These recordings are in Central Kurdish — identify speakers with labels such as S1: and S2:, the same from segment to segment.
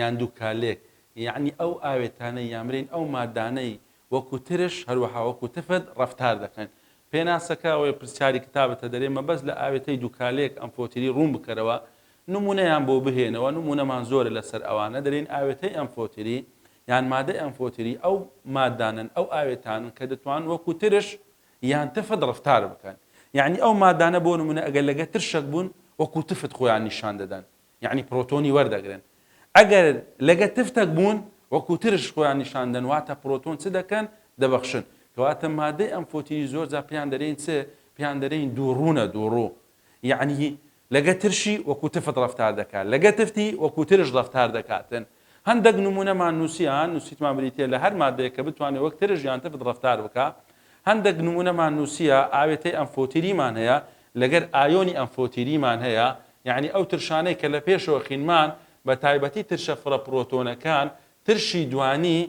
S1: یان دوکالێک یەعنی ئەو ئاوێتانەی یان برێن ئەو مادانەی وەکو ترش هەروەها وەکو تفت ڕەفتار دەکەن پێناسەکە ئەوەیە پرسیاری کتابتە دەرێ مەبەست لە ئاوێتەی دوکالێک ئەمفۆتیری ڕوون بکەرەوە نمونەیان بۆ بهێنەوە نمونەمان زۆرە لەسەر ئەوانە دەرێن ئاوێتەی ئەمفۆتیری یان مادەی ئەمفۆتیری ئەو مادانەن ئەو ئاوێتانن کە دەتوان وەکو ترش یان تفت ڕەفتار بکەن یەعنی ئەو مادانە بۆ نمونە ئەگەر لەگە ترشەک بوون وەکو تفت خۆیان نیشان دەدەن یەعنی پرۆتۆنی وەردەگرن ئەگەر لەگە تفتەک بوون وەکو ترش خۆیان نیشان دەن واتە پرۆتۆن چ دەکەن دەبەخشن کەواتە مادەی ئەم فۆتینی زۆر جا پێیان دەرێن چ پێیان دەرێن دووڕوونە دووڕوو یەعنی لەگە ترشی وەکو تفت ڕفتار دەکات لەگە تفتی وەکو ترش ڕفتار دەکاتن هەندەک نموونەمان نووسیان، نووسیتمان بریتییە لە هەر ماددەیەک کە بتوانێ وەک ترش یان تفت ڕەفتار بکا. هەندەک نموونەمان نووسییە، ئاوێتەی ئەمفۆتیریمان هەیە، لەگەر ئایۆنی ئەمفۆتیریمان هەیە، یانی ئەو ترشانەی کە لە پێشەوە خینمان، بە تایبەتی ترشە فرە پرۆتۆنەکان، ترشی دوانی،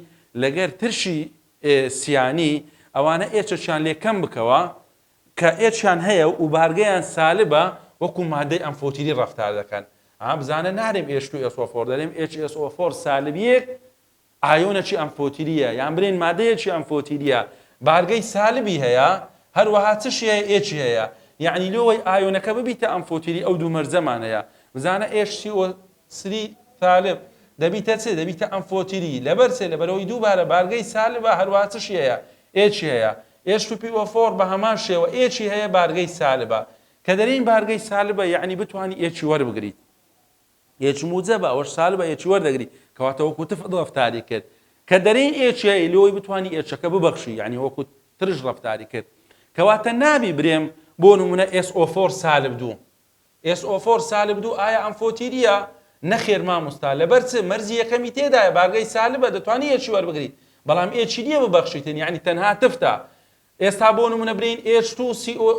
S1: لەگەر ترشی ئێ سیانی، ئەوانە ئێچەکیان لێ کەم بکەوە، کە ئێچیان هەیە و بارگەیان سالبە وەکو مادەی ئەمفۆتیری ڕەفتار دەکەن ئا بزانە نارێم ئێچ تو ئێس ئۆ فۆر دەرێم ئێچ ئێس ئۆ فۆر سالبیەک ئایۆنەکی ئەمفۆتیریە یان برێن مادەیەکی ئەمفۆتیریە بارگەی سالبی هەیە هەروەها چشی هەیە ئێچی هەیە یعنی لۆوەی ئایۆنەکە ببیتە ئەمفۆتیری ئەو دوو مەرجەمان هەیە بزانە ئێچ سی ئۆ سری سالب دەبیتە چ؟ دەبیتە ئەمفۆتیری، لەبەر چ؟ لەبەرئەوەی دووبارە بارگەی سالبە هەروەها چشی هەیە؟ ئێچی هەیە، ئێچ تو پی ئۆ فۆر بەهەمان شێوە ئێچی هەیە بارگەی سالبە، کە دەرێین بارگەی سالبە یەعنی بتوانی ئێچی وەربگریت، ئێچ موجەبە ئەوەش سالبە ئێچی وەردەگری، کەواتە وەکو تف ڕەفتاری کرد، کە دەرێی ئێچی هەیە لۆی بتوانی ئێچەکە ببەخشی یەعنی وەکو ترش ڕەفتاری کرد، کەواتە نابی برێم بۆ نمونە ئێس ئۆ فۆر سالب دوو. SO4 سالب دوو ئایا ئەم فۆتیریە؟ نەخێر ماموستا لەبەر چ؟ مەرزی یەکەمی تێدایە بارگەی سالبە دەتوانی ئێچی وەربگری بەڵام ئێچی نیە ببەخشیتن یانی تەنها تفتە ئێستا بۆ نمونە برێین ئێچ تو سی ئۆ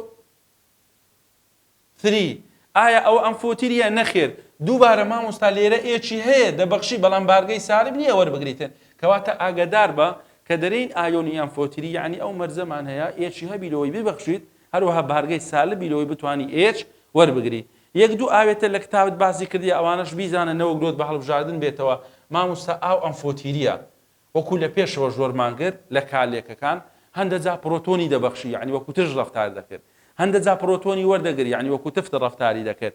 S1: ثری ئایا ئەوە ئەم فۆتیریە نەخێر دووبارە ماموستا لێرە ئێچی هەیە دەبەخشی بەڵام بارگەی سالب نیە وەربگریتن کەواتە ئاگەداربە کە دەرێین ئایۆنی یان فۆتیری یانی ئەو مەرزەمان هەیە ئێچی هەبی لۆی ببەخشیت هەروەها بارگەی سالبی لەوەی بتوانی ئێچ وەربگری یەک دوو ئاوێتە لە کتابت باسی کردیە ئەوانەش بیزانە نەوەک لۆت بە هەڵبژاردن بێتەوە ماموستا ئاو ئەم فۆتیریە وەکو لە پێشەوە ژۆرمان کرد لە کالێکەکان هەندە جا پرۆتۆنی دەبەخشی یعنی وەکو تژ ڕفتار دەکرد هەندە جا پرۆتۆنی وەردەگر یعنی وەکو تفت ڕفتاری دەکرد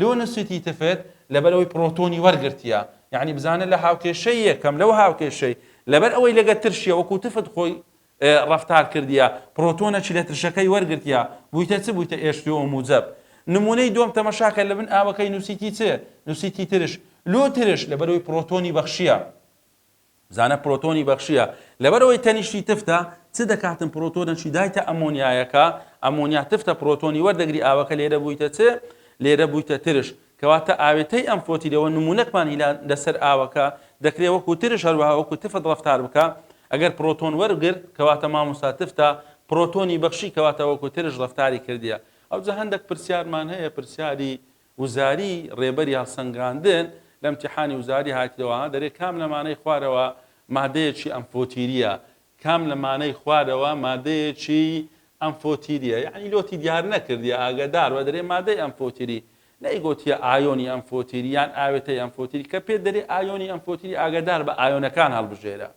S1: لۆ نوسیتی تفت لەبەر ئەوەی پرۆتۆنی وەرگرتیە یعنی بزانە لە هاوکێشەی یەکەم لەو هاوکێشەی لەبەر ئەوەی لەگە ترشیە وەکو تفت خۆی ڕفتار کردیە پرۆتۆنە چی لە ترشەکەی وەرگرتیە بوویتە چ بوویتە ئێشتۆ و موجب نمونەی دۆم تەمەشاکە لە بن ئاوەکەی نووسیتی چ نووسیتی ترش لۆ ترش لەبەرەوەی پرۆتۆنی بەخشیە زانە پرۆتۆنی بەخشیە لەبەرئەوەی تەنیشتی تفتە چ دەکاتن پرۆتۆنەکی دایتە ئەمۆنیایەکە ئەمۆنیا تفتە پرۆتۆنی وەردەگری ئاوەکە لێرە بوویتە چ لێرە بوویتە ترش کەواتە ئاوێتەی ئەم فۆتیلەوە نمونونەکمان هیلا لەسەر ئاوەکە دەکرێت وەکو ترش هەروەها وەکو تفت ڕفتار بکە ئەگەر پرۆتۆن وەرگرت کەواتە مامۆستا تفتە پرۆتۆنی بەخشی کەواتە وەکو ترش ڕفتاری کردیە ئەوجا هەندێک پرسیارمان هەیە پرسیاری وزاری ڕێبەری هەڵسەنگاندن لە ئیمتیحانی وزاری هاتیەوە ها دەرێ کام لە مانای خوارەوە مادەیەکی ئەمفۆتیریە کام لە مانای خوارەوە مادەیەکی ئەمفۆتیریە یەعنی لۆتی دیار نەکردیە ئاگەدار بە دەرێ مادەی ئەمفۆتیری نەیگۆتیە ئایۆنی ئەمفۆتیری یان ئاوێتەی ئەمفۆتیری کە پێ دەرێ ئایۆنی ئەمفۆتیری ئاگەدار بە ئایۆنەکان هەڵبژێرە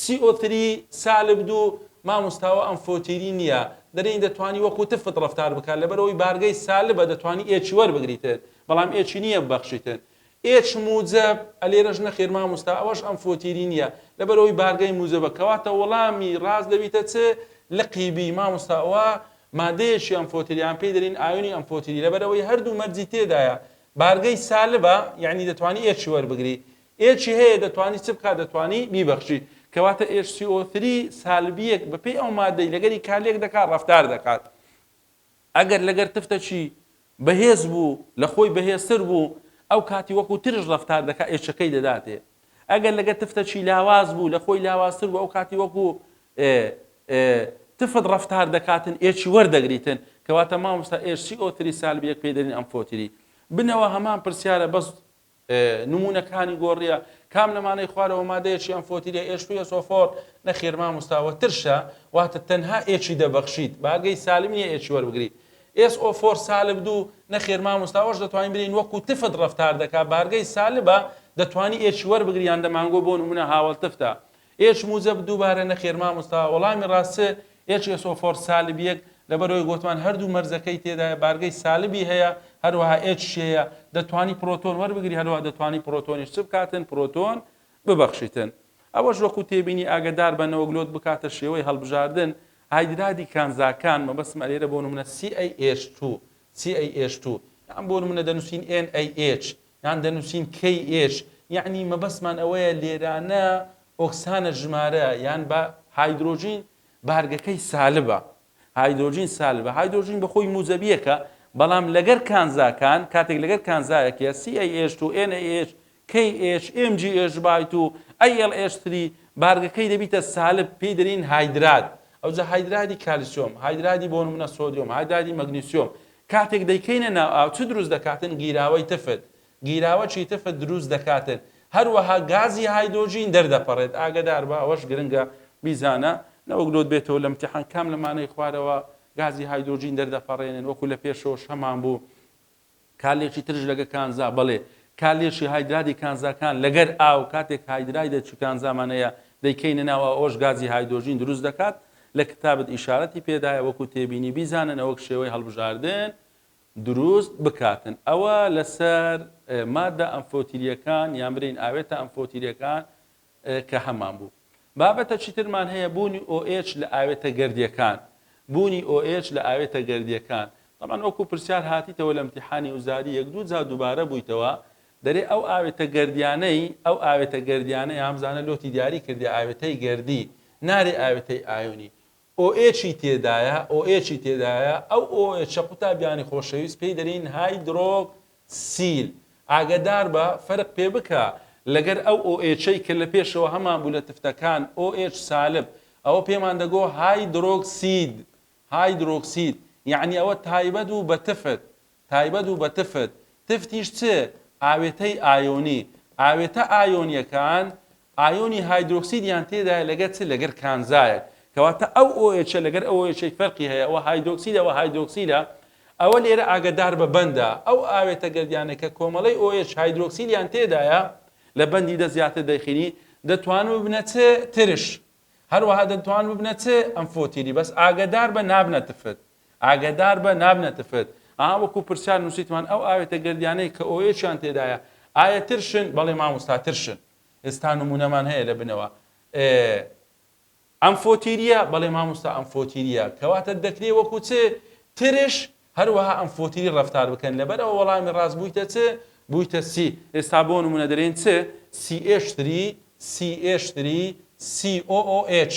S1: سی ئۆ تری سالب دوو، ماموستاوە ئەم فۆتیری نیە دەرێین دەتوانی وەکو تفت ڕەفتار بکات لەبەرئەوەی بارگەی سالبە دەتوانی ئێچی وەربگریتن بەڵام ئێچی نیە ببەخشیتن ئێچ موجەب ئەلێرەش نەخێر ماموستا ئەوەش ئەم فۆتیری نیە لەبەرئەوەی بارگەی موجەبە کەواتە وەڵامی ڕاست دەبیتە چ لقی بی ماموستا ئەوە مادەیەکی ئەم فۆتیریان پێی دەرین ئایونی ئەم فۆتیری لەبەرئەوەی هەردوو مەرجی تێدایە بارگەی سالبە یعنی دەتوانی ئێچی وەربگری ئێچی هەیە دەتوانی چ بکات دەتوانی بیبەخشی کەواتە ئێچ سی ئۆ ثری سالبیەک بەپێی ئەو مادەی لەگەری کالێک دەکات ڕەفتار دەکات ئەگەر لەگەر تفتە چی بەهێز بوو لە خۆی بەهێزتر بوو ئەو کاتی وەکو ترش ڕەفتار دەکات ئێچەکەی دەداتێ ئەگەر لەگەر تفتە چی لاواز بوو لە خۆی لاوازتر بوو ئەو کاتی وەکو تفت ڕفتار دەکاتن ئێچی وەردەگریتن کەواتە مامۆستا ئێرسی ئۆتری سالبیەک پێدەرین ئەم فۆتری بنەوە هەمان پرسیارە بەس نمونەکانی گۆڕیە کام لەمانەی خوارەوە مادەیە چیان فۆتیرە ئێش فیە سۆفۆر نەخیر ماموستا وە ترشە واتە تەنها ئێچی دەبەخشیت باگەی سالم نیە ئێچی وەربگری ئێس ئۆ فۆر سالب دوو نەخێر مامۆستاوەش دەتوانین برین وەکو تفت ڕفتار دەکا بارگەی سالبە دەتوانی ئێچی وەربگریان دەمانگۆ بۆ نمونە هاوڵ تفتە ئێچ موجەب دووبارە نەخێر ماموستا وەڵامی ڕاست چ ئێچ ئێس ئۆ فۆر سالب یەک لەبەرئەوەی گۆتمان هەردوو مەرجەکەی تێدایە بارگەی سالبی هەیە هەروەها ئێچ شێیە دەتوانی پرۆتۆن وەربگری هەروەها دەتوانی پرۆتۆنیش چ بکاتن پرۆتۆن ببەخشیتن ئەوەش وەکو تێبینی ئاگەدار بە نەوەک لۆت بکاتە شێوەی هەڵبژاردن هایدرادی کانزاکان مەبەستم ئەلێرە بۆ نمونە CaH2 CaH2 یان بۆ نمونە دەنووسین NaH یان دەنووسین کەی ئێش یەعنی مەبەستمان ئەوەیە لێرانە ئۆکسانە ژمارە یان بە هایدرۆجین بارگەکەی سالبە هایدرۆجین سالبە هایدرۆجین بە خۆی موزەبیەکە بەڵام لەگەر کانزاکان کاتێک لەگەر کانزایەکە CAH و NAH KH MGH بایت و ILH3 بارگەکەی دەبیتە سالب پێی دەرین هایدرات ئەوجا هایدرادی کالیسیۆم هایدرادی بۆنمونە سۆدیۆم هایدرادی مەگنیسیۆم کاتێک دەیکەینە ناو ئاو چ دروست دەکاتن گیراوەی تفت، گیراوەچی تفت دروست دەکاتن، هەروەها گازی هایدۆجین دەردەپەڕێت ئاگەداربە ئەوەش گرنگە بیزانە نەوەک لۆت بێتەوە لە امتحان کام لەمانەی خوارەوە گازی هایدۆجین دەردەپەڕێنن وەکو لە پێشەوەش هەمان بوو کالێکی ترش لەگە کانزا بەڵێ کالێشی هایدرادی کانزاکان لەگەر ئاو کاتێک هایدرای دەچی کانزامان هەیە دەیکەینە ناو ئەوەش گازی هایدۆجین دروست دەکات لە کتابت ئیشارەتی پێدایە وەکو تێبینی بیزانن ئەوەک شێوەی هەڵبژاردن دروست بکاتن ئەوە لەسەر مادە ئەمفۆتیریەکان یان برین ئاوێتە ئەمفۆتیریەکان کە هەمان بوو بابەتە چیترمان هەیە بوونی OH لە ئاوێتە گردیەکان بوونی OH لە ئاوێتە گردیەکان طبعا وەکو پرسیار هاتیتەوە لە امتحانی وزاری یەک دوو جا دووبارە بوویتەوە دەرێ ئەو ئاوێتە گەردیانەی، ئەو ئاوێتە گەردیانە یا هەمزانە لۆتی دیاری کردێ ئاوێتەی گەردی، نارێ ئاوێتەی ئایۆنی. OH ی تێدایە، OH ی تێدایە، ئەو OH ە قوتابیانی خۆشەویست پێی دەرێین هایدرۆک سیل. ئاگەدار بە، فەرق پێ بکە لەگەر ئەو OH ەی کە لە پێشەوە هەمان بوو لە تفتەکان، OH سالب، ئەوە پێمان دەگۆ هایدرۆک سید، هایدرۆک سید، یەعنی ئەوە تایبەت بوو بە تفت، تایبەت بوو بە تفت، تفتیش چ؟ ئاوێتەی ئایۆنی، ئاوێتە ئایۆنیەکان ئایۆنی هایدرۆکسیدیان تێدایە لەگەر چ؟ لەگەر کانزایەک، کەواتە ئەو ئۆئێچە لەگەر ئەو ئۆئێچەی فەرقی هەیە، ئەوە هایدۆکسید ئەوە هایدرۆکسیدە، ئەوە لێرە ئاگەدار بە بەندە، ئەو ئاوێتە گەردیانە کە کۆمەڵەی ئۆئێچ هایدرۆکسیدیان تێدایە لە بەندی دە زیاتر دەیخینی دەتوان ببنە چ؟ ترش، هەروەها دەتوان ببنە چ؟ ئەمفۆتیری، بەس ئاگەدار بە نابنە تفت. ئاگەدار بە نابنە تفت. ئا وەکو پرسیار نوسیتمان ئەو ئاوێتە گەردیانەی کە ئۆیەکیان تێدایە ئایە ترشن بەڵێ ماموستا ترشن ئێستا نمونەمان هەیە لە بنەوە ئێ ئەم فۆتیریە بەڵێ ماموستا ئەم فۆتیریە کەواتە دەکرێ وەکو چ ترش هەروەها ئەم فۆتیری ڕفتار بکەن لەبەر ئەوە وەڵامی ڕاست بوویتە چ بوویتە سی ئێستا بۆ نمونە دەرێن چ سی ئێشتری سی ئێشتری COOH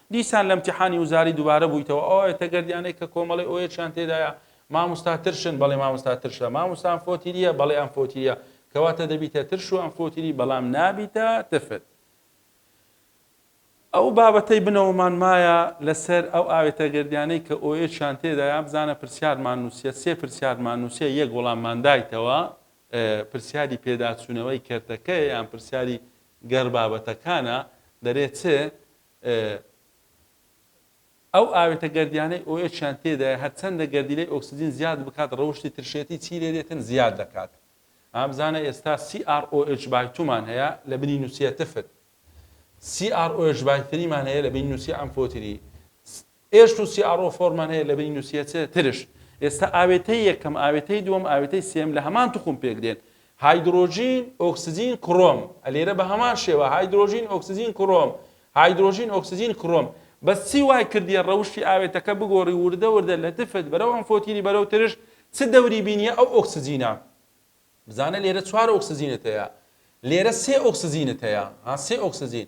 S1: دیسان لە امتحانی وزاری دوبارە بویتەوە ئەو ئەوێتە گەردیانەی کە کۆمەڵی ئۆیەچیان تێدایە ماموستا ترشن بەڵی ماموستا ترشە ماموستا ئەمفۆتیریە بەڵی ئەمفۆتیریە کەواتە دەبیتە ترش و ئەمفۆتیری بەڵام نابیتە تفت ئەو بابەتەی بنەوەمان مایە لەسەر ئەو ئاوێتە گردیانەی کە ئۆیەچیان تێدایە بزانە پرسیارمان نووسە سێ پرسیارمان نووسە یەک وەڵاممان دایتەوە پرسیاری پێداچوونەوەی کەرتەکەی یان پرسیاری گەڕ بابەتەکانە دەرێت چ ئەو ئاوێتە گەردیانەی ئۆ ئێچ یان تێدایە هەرچەندە گەردیلەی ئۆکسجین زیاد بکات ڕەوشتی ترشێتی چی لێ دێتن زیاد دەکات ئەم زانە ئێستا CrOH بای تومان هەیە لە بنی نووسیە تفت CrOH بای تریمان هەیە لە بین نووسیە ئەمفۆتری ئێش و CRO فۆرمان هەیە لە بنین و سێ چ ترش. ئێستا ئاوێتەی یەکەم، ئاوێتەی دووەم، ئاوێتەی سێم لە هەمان توخم پێک دێن. هایدرۆجین، ئۆکسجین، کڕۆم. ئەلێرە بە هەمان شێوە، هایدرۆجین، ئۆکسجین، کڕۆم. هایدرۆجین، ئۆکسجین، کڕۆم. بەس چی وای کردیە ڕەوشی ئاوێتەکە بگۆڕی وردە وردە لە تفت بەرەو ئەمفۆتیری بەرەو ترش چ دەوری بینیە ئەو ئۆکسجینە؟ بزانە لێرە چوار ئۆکسجینت هەیە لێرە سێ ئۆکسجینت هەیە ها سێ ئۆکسجین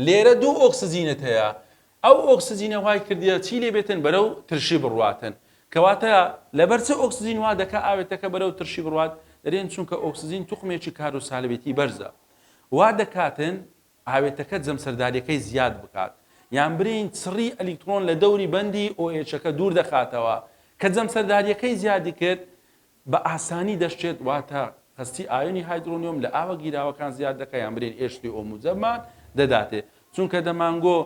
S1: لێرە دوو ئۆکسجینت هەیە ئەو ئۆکسجینە وای کردە چی لێ بێتن بەرەو ترشی بڕواتن کەواتە لەبەر چ ئۆکسجین وا دەکە ئاوێتەکە بەرەو ترشی بڕات دەرێن چونکە ئۆکسجین توخمێکی کار و سالبێتی بەرزە وا دەکاتن ئاوێتەکە جەمسەرداریەکەی زیاد بکات یان برین چڕی ئەلیکترۆن لە دەوری بەندی ئۆئچەکە دوور دەخاتەوە کە جەمسەرداریەکەی زیادی کرد بە ئاسانی دەشچێت، واتە هەستی ئایۆنی هایدرۆنیۆم لە ئاوە گیراوەکان زیاد دەکات یان برێن ئێش سێ ئۆ موجەممان دەداتێ چونکە دەمانگۆ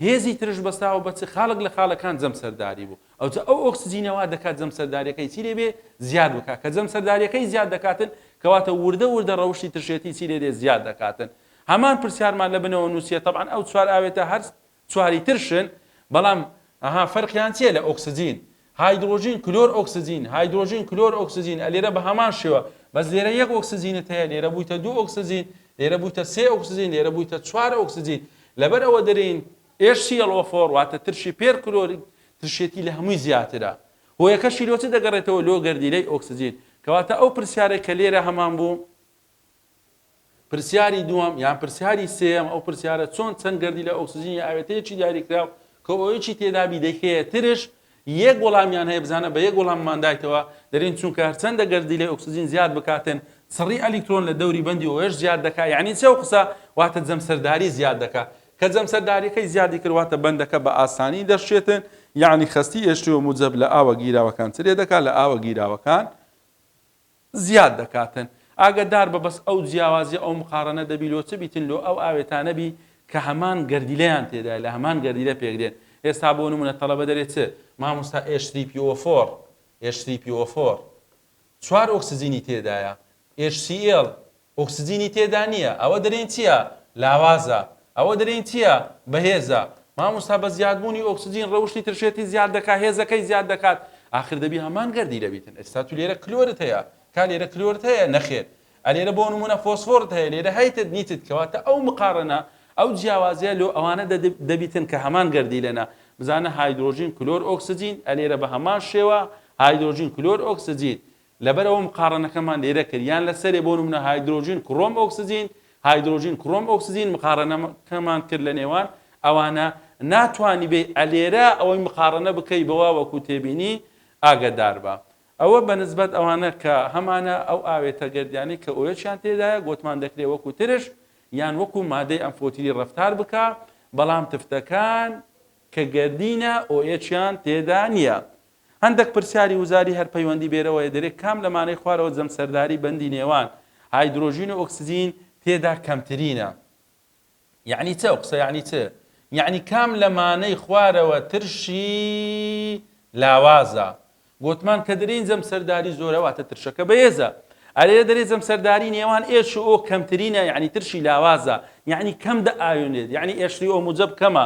S1: هێزی ترش بەستاوە بە چ خاڵک لە خاڵەکان جەم سەرداری بوو ئەوجا ئەو ئۆکسجینەوە دەکات جەم سەردارەکەی چی لێبێ زیاد بکات کە جەم سەردارەکەی زیاد دەکاتن کەواتە وردە وردە ڕەوشی ترشێتی چی لێرێ زیاد دەکاتن هەمان پرسیارمان لە بنەوە نووسە طبعاان ئەو چوار ئاوێتە هەرست چواری تر شن بەڵام ئەها فەرقیان چیە لە ئۆکسجین هایدرۆجین کلۆر ئۆکسجین هایدرۆجین کلۆر ئۆکسجین ئە لێرە بە هەمان شێوە بەس لێرە یەک ئۆکسجینت هەیە لێرە بوویتە دوو ئۆکسجین لێرە بوویتە سێ ئۆکسجین لێرە بوویتە چوار ئۆکسجین لەبەر ئەوە دەرین HClO4 واتە ترشی پێر کلۆری ترشێتی لە هەمووی زیاترە هۆیەکەشی لۆ چ دەگەڕێتەوە لۆ گەردیلەی ئۆکسجین کەواتە ئەو پرسیارەی کە لێرە هەمان بوو پرسیاری دووەم یان پرسیاری سێەم ئەو پرسیارە چۆن چەند گردی لە ئۆکسسیجینی ئاوێتەیەکی دیاریکراو کە ئەوەیەکی تێدابی دەکەیە ترش یەک وەڵامیان هەیە بزانە بە یەک وەڵامماندایتەوە دەرین چونکە هەرچەندە گردی لە ئۆکسسیجین زیاد بکاتن سڕی ئەلیکترۆن لە دەوری بەندی ئەوەش زیاد دەکات یعنی چەو قسە واتە جەمسەرداری زیاد دەکات کە جەمسەرداریەکەی زیادی کردواتە بەندەکە بە ئاسانی دەشێتن یعنی خستی ئێشتوە موجب لە ئاوە گیراوەکان چ لێ دەکات لە ئاوە گیراوەکان زیاد دەکاتن ئاگە دار بە بەس ئەو جیاوازیە ئەو مقاڕەنە دەبی لۆ چ بیتن لۆ ئەو ئاوێتانە بی کە هەمان گەردیلەیان تێدایە لە هەمان گەردیلە پێک دێن ئێستا بۆ نمونە تەڵەبە دەرێ چ مامۆستا ئێچ سی پی ئۆ فۆر ئێچ سی پی ئۆ فۆر چوار ئۆکسجینی تێدایە ئێچ سی ئێڵ ئۆکسجینی تێدا نیە ئەوە دەرێن چیە لاوازە ئەوە دەرێن چیە بەهێزە ماموستا بە زیاد بوونی ئۆکسجین ڕەوشی ترشێتی زیاد دەکا هێزە کەی زیاد دەکات ئاخر دەبی هەمان گەردی لەبیتن ئێستا تو لێرە کلۆرت هەیە کا لێرە کلۆرت هەیە نەخێر ئەلێرە بۆ نمونە فۆسفۆرت هەیە لێرە هەیتت نیتت کەواتە ئەو مقاڕنە ئەو جیاوازیە لۆ ئەوانە دەبیتن کە هەمان گەردی لەنە بزانە هایدرۆژین کلۆر ئۆکسجین ئەلێرە بە هەمان شێوە هایدرۆژین کلۆر ئۆکسجین لەبەرئەوە مقاڕەنەکەمان لێرە کرد یان لەسەرێ بۆ نمونە هایدرۆجین کڕۆم ئۆکسجین هایدرۆجین کڕۆم ئۆکسجین مقاڕەنەکەمان کرد لە نێوان ئەوانە ناتوانی بێی ئەلێرە ئەوەی مقاڕەنە بکەی بەوە وەکو تێبینی ئاگەداربە ئەوە بەنسبەت ئەوانە کە هەمانە ئەو ئاوێتە گەردیانەی کە ئۆیەچیان تێدایە گۆتمان دەکرێ وەکو ترش یان وەکو مادەی ئەمفۆتیری ڕفتار بکە بەڵام تفتەکان کە گەردینە ئۆیەچیان تێدا نییە هەندەک پرسیاری وزاری هەر پەیوەندی بێرەوە یە دەرێ کام لەمانەی خوارەوە جەمسەرداری بەندی نێوان هایدرۆژین و ئۆکسجین تێدا کەمترینە؟ یەعنی چ ئەو قسە یەعنی چ؟ یەعنی کام لەمانەی خوارەوە ترشی لاوازە؟ گۆتمان کە دەرێین جەمسەرداری زۆرە واتە ترشەکە بەێزە ئەرێ دەرێ جەمسەرداری نێوان ئێش و ئۆ کەمترینە یەعنی ترشی لاوازە یەعنی کەم دە ئاوێنێت یەعنی ئێشری ئۆ موجەب کەمە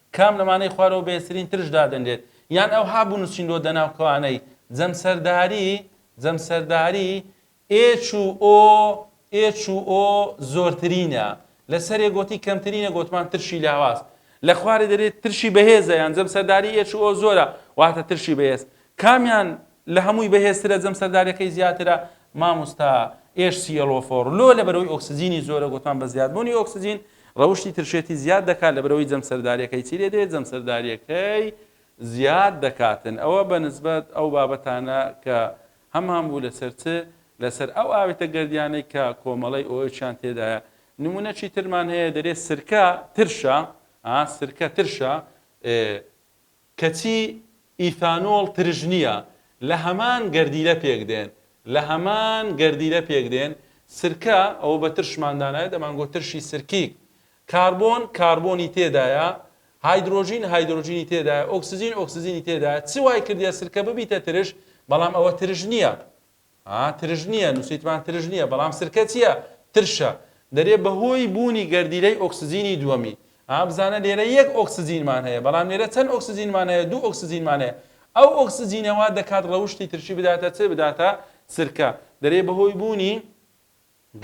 S1: کام لەمانەی خوارەوە بەهێزترین ترش دادەنرێت، یان ئەوها بنوسینرۆ دەناو کەوانەی، جەمسەرداری، جەمسەرداری، ئێچ و ئۆ، ئێچ و ئۆ، زۆرترینە، لەسەرێ گۆتی کەمترینە گۆتمان ترشی لاواز، لەخوارێ دەرێت ترشی بەهێزە یان جەمسەرداری ئێچ و ئۆ زۆرە واتە ترشی بەهێز، کامیان لە هەمووی بەهێزترە جەم سەرداریەکەی زیاترە. ماموستا ئێش سیەڵۆفۆڕ لۆ لەبەرەوەی ئۆکسجینی زۆرە گۆتمان بە زیادبوونی ئۆکسجین ڕەوشی ترشێتی زیاد دەکات لەبەرەوەی جەم سەرداریەکەی چی لێ دێت جەم سەرداریەکەی زیاد دەکاتن ئەوە بە نسبەت ئەو بابەتانە کە هەمان بوو لەسەر چ لەسەر ئەو ئاوێتە گردیانەی کە کۆمەڵی ئۆچیان تێدایە نمونە چی ترمان هەیە دەرێ سرکە ترشە سرکە ترشە کەچی ئیثانۆڵ ترش نییە، لە هەمان گەردیلە پێک دێن، لە هەمان گەردیلە پێک دێن، سرکە، ئەوە بە ترشمان دانایە دەمانگۆت ترشی سرکیک، کاربۆن، کاربۆنی تێدایە، هایدرۆجین، هایدرۆجینی تێدایە، ئۆکسجین، ئۆکسجینی تێدایە، چ وای کردیە سرکە ببیتە ترش، بەڵام ئەوە ترش نییە. ها ترش نییە نووسیتمان ترش نییە بەڵام سرکە چییە ترشە دەرێ بەهۆی بوونی گەردیلەی ئۆکسجینی دووەمی ها بزانە لێرە یەک ئۆکسجینمان هەیە بەڵام لێرە چەند ئۆکسجینمان هەیە دوو ئۆکسجینمان هەیە ئەو ئۆکسجینەوە دەکات ڕەوشی ترشی بداتە چ بداتە سرکە دەرێ بەهۆی بوونی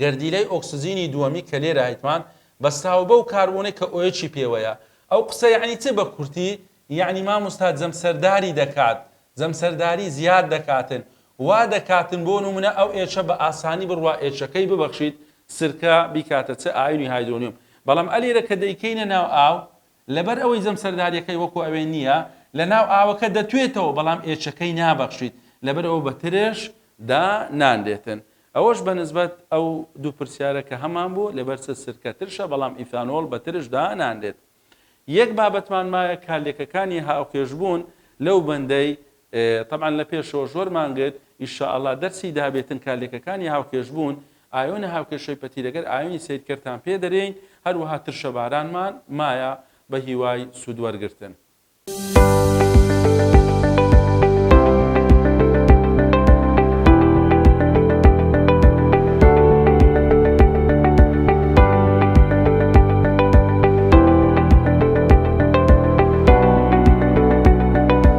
S1: گەردیلەی ئۆکسجینی دووەمی کە لێرە هەیتمان بەستراوە بەو کاربۆنەی کە ئۆیەکی پێوەیە ئەو قسە یەعنی چ بە کورتی یەعنی ماموستا جەمسەرداری دەکات جەمسەرداری زیاد دەکاتن وا دەکاتن بۆ نمونە ئەو ئێچە بە ئاسانی بڕوا ئێچەکەی ببەخشیت سرکە بیکاتە چ ئایونی هایدرۆنیۆم بەڵام ئەلیرە کە دەیکەینە ناو ئاو لەبەر ئەوەی جەمسەرداریەکەی وەکو ئەوێ نییە لەناو ئاوەکە دەتوێتەوە بەڵام ئێچەکەی نابەخشیت لەبەر ئەوە بە ترێش دا نانرێتن ئەوەش بە نسبەت ئەو دوو پرسیارە کە هەمان بوو لەبەر چ سرکە ترشە بەڵام ئیثانۆڵ بە ترش دا نانرێت یەک بابەتمان مایە کە لێکەکانی هاوکێش بوون لەو بەندەی تەبعەن لە پێشەوە ژۆر مانگت ان شاء اللە دەرسی دابێ تنکا لێکەکانی هاوکێش بوون ئایۆنە هاوکێشەی پەتیرەگەر ئایۆنی سەیر کەرتان پێ دەرێین هەروەها ترشە بارانمان مایە بە هیوای سوود وەرگرتن.